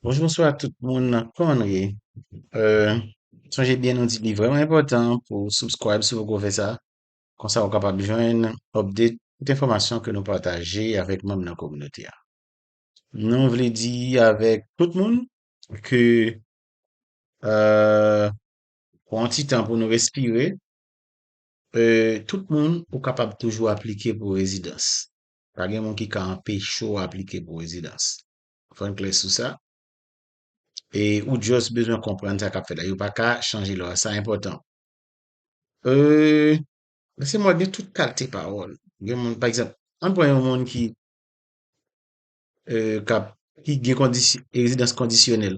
Bonjou bonswa tout moun nan kòman nou ye euh sonje byen nou di li vrèman enpòtan pou subscribe si poko fè sa konsa ou kapab jwenn update tout enfòmasyon ke nou pataje avèk manm nan kominote a nou vle di avèk tout moun ke euh pran yon ti tan pou nou respire euh tout moun ou kapab toujou aplike pou rezidans Pa gen moun ki ka anpeche w aplike pou rezidans. Fò n klè sou sa. E ou just bezwen konprann sa k ap fèt la. Yo pa ka chanje lwa a. Sa enpòtan. Nan se mwen gen tout kalte pawòl. Gen moun, pa egzanp, an n pran yon moun ki k ap, ki gen kondisyon, rezidans kondisyonèl.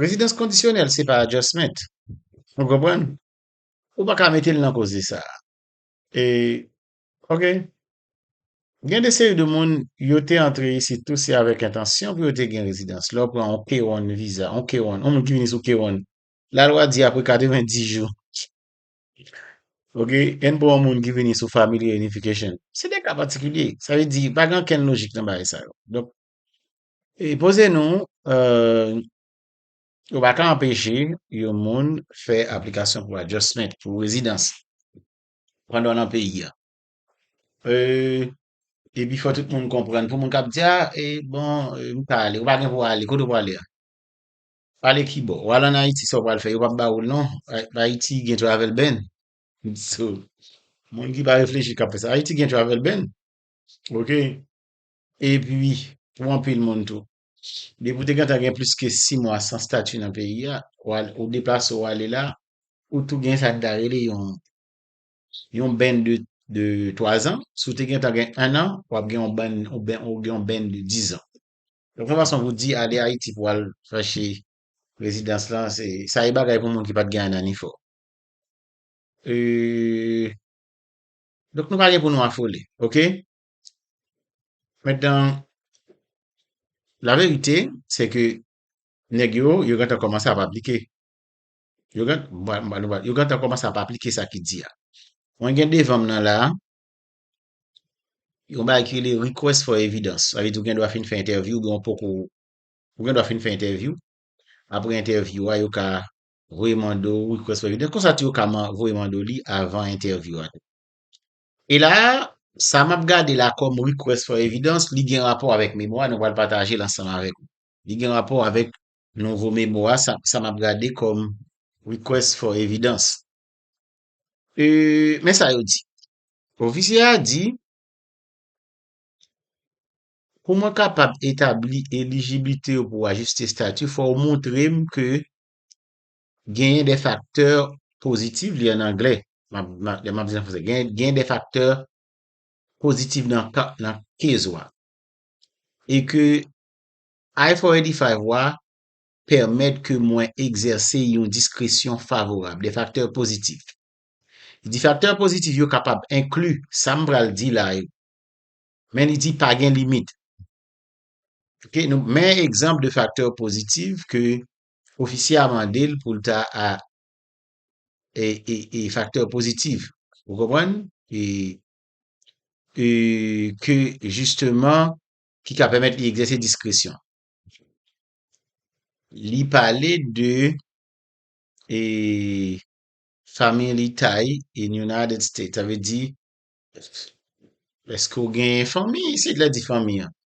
Rezidans kondisyonèl se pa adjustment. Ou konprann? Ou pa ka mete l nan koze sa a. E Ok Gen de seri de moun yo te antre isit tou se avèk entansyon pou yo te gen rezidans. Lè w pran yon K-1 viza, yon K-1, yon moun ki vini sou K-1, lalwa di apre 90 jou, ok, ann pran yon moun ki vini sou Family Reunification, se de ka patikilye. Sa vle di pa gen ankenn lojik nan bagay sa yo. Donk, e poze nou, ou pa ka anpeche yon moun fè aplikasyon pou adjustment, pou rezidans. pandan w nan peyi a. E, epi fò tout moun konprann. Pou moun k ap di, a, e, bon, m pa ale. Ou pa gen pou w ale. Kote ou prale a? Prale ki bò? W al ann Ayiti, sa w pral fè? Yo pap ba ou l non. Ayiti gen travel ban. So, moun ki pa reflechi k ap fè sa. Ayiti gen travel ban. Ok. Epi, pou anpil moun tou. Depi w te gentan gen plis ke 6 mwa san stati nan peyi a, ou deplase ou ale la, ou tou gen sa n ta rele yon yon bènn de 3 zan. Si w te gentan gen 1 an, w ap gen yon bènn ou gen yon bènn de 10 zan. Donk yon fason pou di ale Ayiti pou al chache rezidans lan se sa e bagay pou moun ki pat gen ananifò. Donk nou pa gen pou nou afole. Ok. Metan, la verite, se ke nèg yo, yo gentan kòmanse ap aplike. Yo gen, yo gentan kòmanse ap aplike sa ki di a. Mwen gen devan m nan la, yon bagay ki rele request for evidence. Sa vle di ou gendwa fin fè entèvyou oubyen ou poko, ou gendwa fin fè entèvyou. Apre entèvyou a, yo ka voye mande w request for evidence. Konsa tou yo ka voye mande w li avan entèvyou a. E la a, sa m ap gade la kòm request for evidence, li gen rapò avèk memwa nou pral pataje l ansanm avèk ou. Li gen rapò avèk nouvo memwa sa, sa m ap gade kòm request for evidence. E, men sa yo di. Ofisye a di, Pou mwen kapab etabli elijiblite ou pou ajiste stati, fò ou montre m ke Genyen de faktè positif li an anglè lè map di an fransè genyen de faktè positif nan case ou a e ke I for 85 ou a pèmèt ke mwen egzèse yon diskresyon favorab de faktè positif li di faktè positif yo kapab enkli sa m pral di la yo men li di pa gen limit ok nou men egzanp de faktè positif ke Ofisye a mande l pou l ta a e faktè pozitiv. Ou konprann? E e ke jisteman ki ka pèmèt li egzèse diskresyon. Li pale de e family tie in United States. Sa vle di, èske ou gen fanmi isit? Lè l di fanmi an,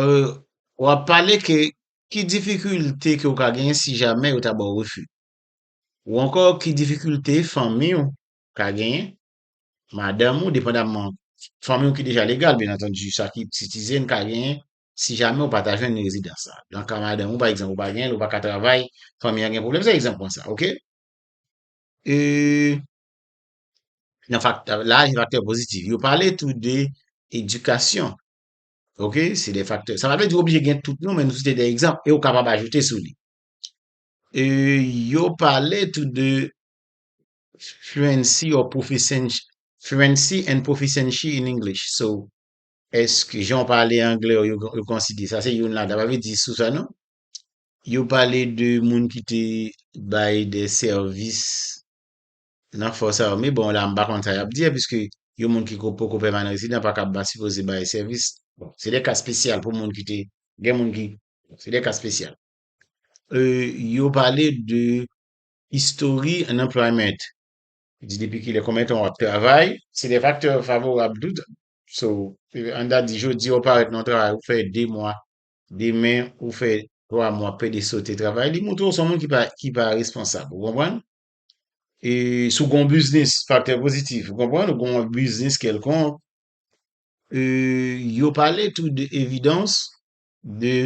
euh wap pale ke ki difikilte ke ou ka genyen si jamè yo ta baw refi ou ankò ki difikilte fanmiw ka genyen madanm ou depandamman fanmiw ki deja legal byen antandu sa ki sitizen ka genyen si jamè ou pa ta jwenn rezidans sa nan ka madanm ou pa egzanp ou pa genyen l ou pa ka travay fanmi an gen pwoblèm se egzanp mwen sa ok euh nan faktè, la gen faktè pozitif. Yo pale tou de edikasyon. Ok, se de faktè. Sa pa vle di ou oblije gen tout non, men nou site de egzanp e ou kapab ajoute sou li. E yo pale tou de fluency or proficiency, fluency and proficiency in English. So, eske jan ou pale anglè ou yo konsidere sa se youn ladan. Sa pa vle di sou sa non. Yo pale de moun ki te bay de sèvis Nan fòs ame, bon la m pa konn sa y ap di a piske yon moun ki ko poko pèmanan rezidan pa kab pa sipoze bay sèvis. Bon, se de ka spesyal pou moun ki te, gen moun ki, bon, se de ka spesyal. E yo pale de history unemployment. Yo di depi kilè, konbyen tan w ap travay. Se de faktè favorab tou. So, an n ta di jodi a ou parèt nan yon travay ou fè 2 mwa, demen ou fè 3 mwa, pede sote travay. Li montre w se yon moun ki pa, ki pa responsab. Ou konprann? e si w gen yon biznis, faktè pozitif, ou konprann, ou gen yon biznis kèlkonk, e yo pale tou de evidans de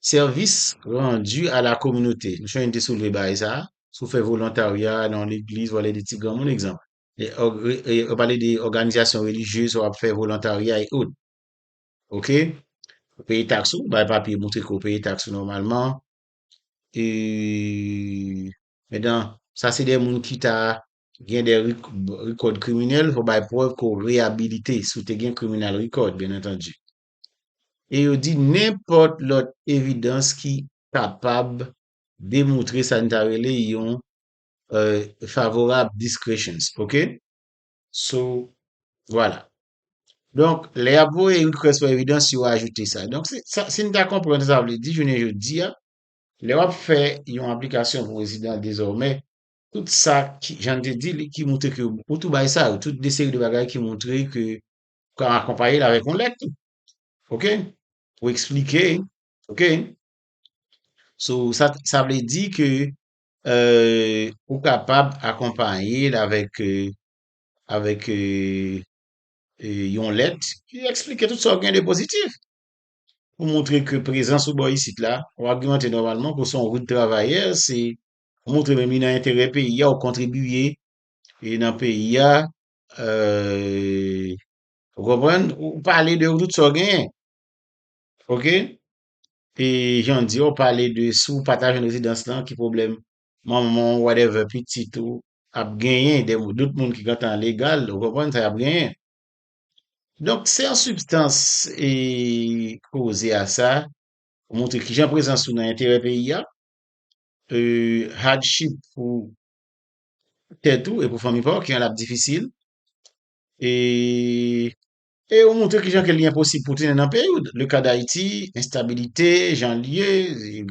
sèvis randi a la kominote. M swen te soulve bagay sa a, si w fè volontarya nan yon legliz, w ale de ti granmoun egzanp, yo pale de òganizasyon relijye, si w ap fè volontarya e out. Ok? Ou peye taks ou, bay papye montre ke ou peye taks ou nòmalman, e. Medan sa se 2 moun kita gen 2 record kriminèl fò bay prèv ke w reyabilite si w te gen criminal record byen antandu. E yo di nenpòt lòt evidans ki kapab demoutre sa n ta rele yon favorab discretions ok. So vwala. Donk lè y ap voye request for evidence yo ajoute sa. Donk si n ta konprann sa sa vle di jounen jodi a Lè w ap fè yon aplikasyon pou rezidan dezòmè, tout sa ki, jan n te di li, ki moutre ke ou tou bay sa yo, tout de seri de bagay ki moutre ke ou ka akonpaye l avèk yon lèt tou. Ok? Pou eksplike, ok? So, sa, sa vle di ke ou kapab akonpaye l avèk, avèk yon lèt ki eksplike tout sa ou gen de pozitif. pou moutre ke prezans ou bò isit la, ou agimante nòmalman ke w se yon rout travayè, se ou moutre menm li nan enterè peyi a, ou kontribiye e nan peyi a, ou konprann, ou pale de tout sa w genyen. Ok. E jan w di a, ou pale de si w pa ta jwenn rezidans lan, ki pwoblèm manman w, whatever, pitit ou ap genyen, de dout moun ki gentan legal, ou konprann, sa y ap genyen. Donk se an sibstans e koze a sa pou montre kijan prezans ou nan enterè peyi a, hardship pou tèt ou e pou fanmi pa w ki rand la difisil e ou montre kijan ke li enposib pou tounen nan peyi w, le ka dayiti, enstabilite, jan l ye,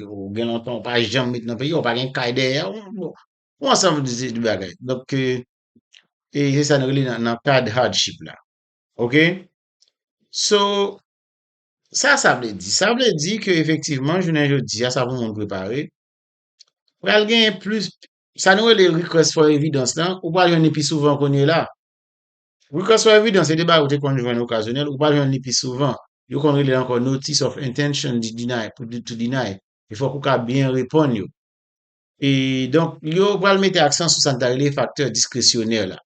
ou gen lontan ou pa janm met nan peyi a, ou pa gen kay dèyè w, bon, ou ansanm de bagay. Donk. e se sa nou rele nan kad hardship la ok so sa sa vle di? sa vle di ke efektivman jounen jodia sa pou moun prepare pral gen plis sa nou rele request for evidence lan ou pral jwenn li pi souvan kounye la request for evidence se te bagay ou te konn jwenn okazyonèl ou pral jwenn li pi souvan yo konn rele l ankò notice of intention to deny e fòk ou ka byen reponn yo E donk, yo pral mete aksan sou sa n ta rele faktè diskresyonè la.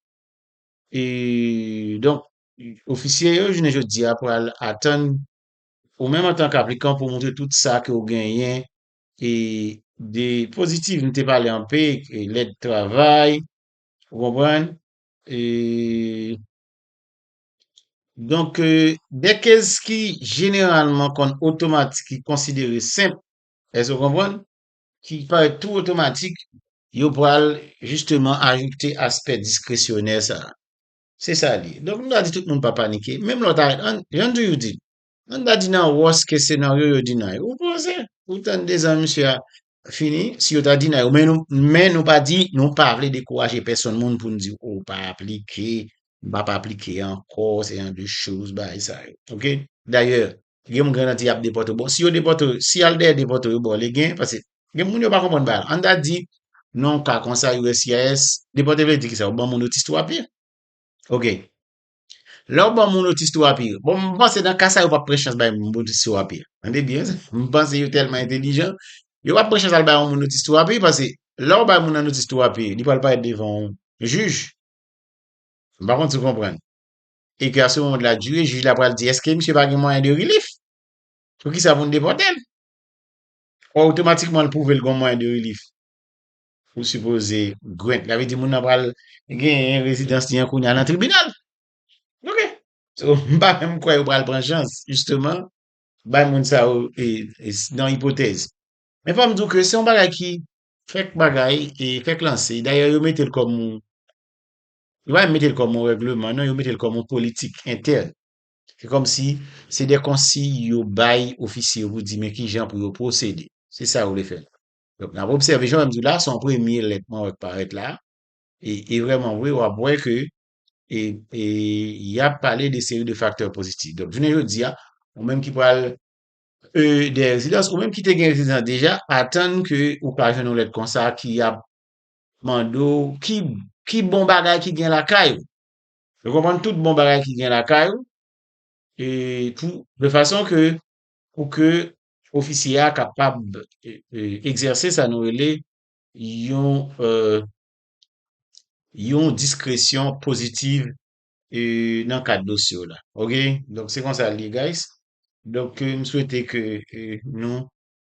E donk, ofisye yo jounen jodi a pral atann ou menm antank aplikan pou montre tout sa ke ou genyen e de pozitiv m te pale anpe, lèt travay, ou konprann, e donk de kez ki jeneralman konn otomatik ki konsidere senp, èske ou konprann? ki parèt tou otomatik, yo pral jisteman ajoute aspè diskresyonè sa a. Se sa l ye. Donk, m ta di tout moun pa panike. Menm lè w ta ret, an, jan m toujou di, an n ta di nan worst case scenario yo deny ou, ou pose, ou tann 2 zan misye a fini, si yo ta deny ou. Men nou, men nou pa di, nou pa vle dekouraje pèsonn moun pou n di w ou pa aplike, m pa p aplike ankò, se jan de choz bagay sa yo. Ok? Dayè, Gen yon grenn an di yap depòte w. Bon, si yo depòte w, si y al dèyè depòte w yo ba w legen an, paske gen moun yo pa konprann bagay la. An ta di, nan yon ka kon sa uscis, depòte vle di ki sa? Ou ban moun otis tou api. Ok. Lè ou ban moun otis tou api, bon m panse nan ka sa yo pap pran chans bay moun otis tou api. Tande byen sa. M panse yo tèlman entelijan, yo pap pran chans al bay yon moun otis tou api paske lè ou bay moun nan otis tou api, li pral parèt devan yon jij. M pa konn si w konprann. e ke a se mond la dire jij la pral di eske misye pa gen mwayen de rilif pou kisa pou nou depòte l o otomatikman l pwouve l gon mwayen de rilif ou sipoze grant la vle di moun nan pral genyen rezidans li an kounya nan tribinal ok so m pa menm kwè yo pral pran chans jisteman bay moun sa yo e nan ipotèz men fò m di w ke se yon bagay ki fèk bagay e fèk lanse dayè yo mete l kòm yon Yo pa menm mete l kòm yon règleman non, yo mete l kòm yon politik entèn. Se kòm si se de konsiy yo bay ofisye yo pou di men kijan pou yo pwosede. Se sa yo vle fè la. Donk, n ap obsève, jan m di w la, se yon premye lèt mwen wè k parèt la. E vrèman vre, w ap wè ke y ap pale de seri de faktè pozitif. Donk, jounen jodi a, ou menm ki pral de rezidans, ou menm ki te gen rezidans deja, atann ke ou ka jwenn yon lèt konsa ki ap Mande w ki ki bon bagay ki gen lakay ou. Nou konprann tout bon bagay ki gen lakay ou e pou de fason ke pou ke ofisye a kapab egzèse sa nou rele yon yon diskresyon pozitiv e nan kad dosye w la. Ok, donk se konsa l ye guys. Donk m swete ke nou